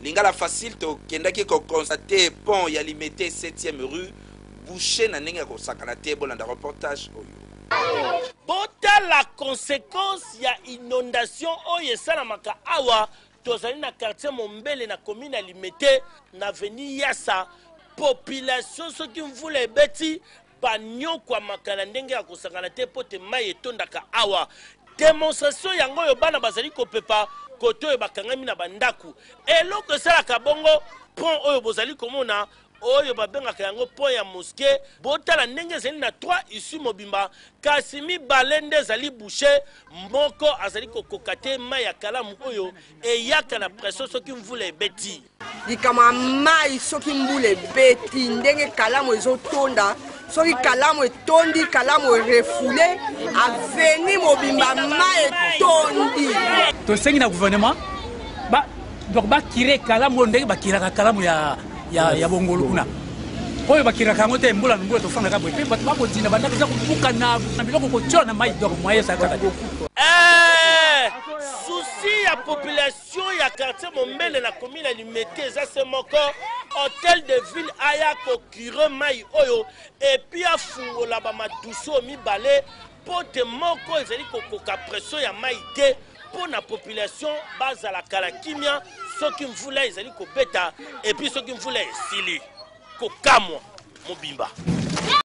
Lingala facile to kendaki ko constate pont ya limete septième rue bouche na ndenge ya ko sakana te bo landa reportage oyo. Botala consequence ya inondation oyo esalamaka awa tozali na quartier mombele na commune ya limete na avenue yassa population soki mvula ebeti banyokwamaka na ndenge ya kosangana te mpo te mai etondaka awa demonstration yango oyo bana bazali kopepa kote oyo bakangami na bandako eloko esalaka bongo pont oyo bozali komona oyo babengaka yango pont ya moske botala ndenge ezali na 3 isu mobimba kasi mibale nde ezali bouche moko azali kokoka te mai ya kalamu oyo eyaka na preso soki mvula ebeti likama ya mai soki mbula ebeti ndenge kalamu ezotonda soki kalamu etondi kalamu erefoule aveni mobimba mai etondi tosengi na gouvernement ba, donc bakire kalamu oyo ndenge bakiraka kalamu ya, ya, ya bongolu kuna oyo bakiraka yango te mbula na mbula tofandaka boye mpe bato bakodina bandako eza kobukana na biloko kotyola na mai donc moye ezalaka te souci ya population ya quartier mombele na commune ya limete eza se moko hotel de ville aya kokire mai oyo epuis afungola bamaduso mibale mpo te moko ezali kokoka pression ya mai te mpo na population bazala kala kimia soki mvula ezali kobeta epuis soki mvula esili kokamwa mobimba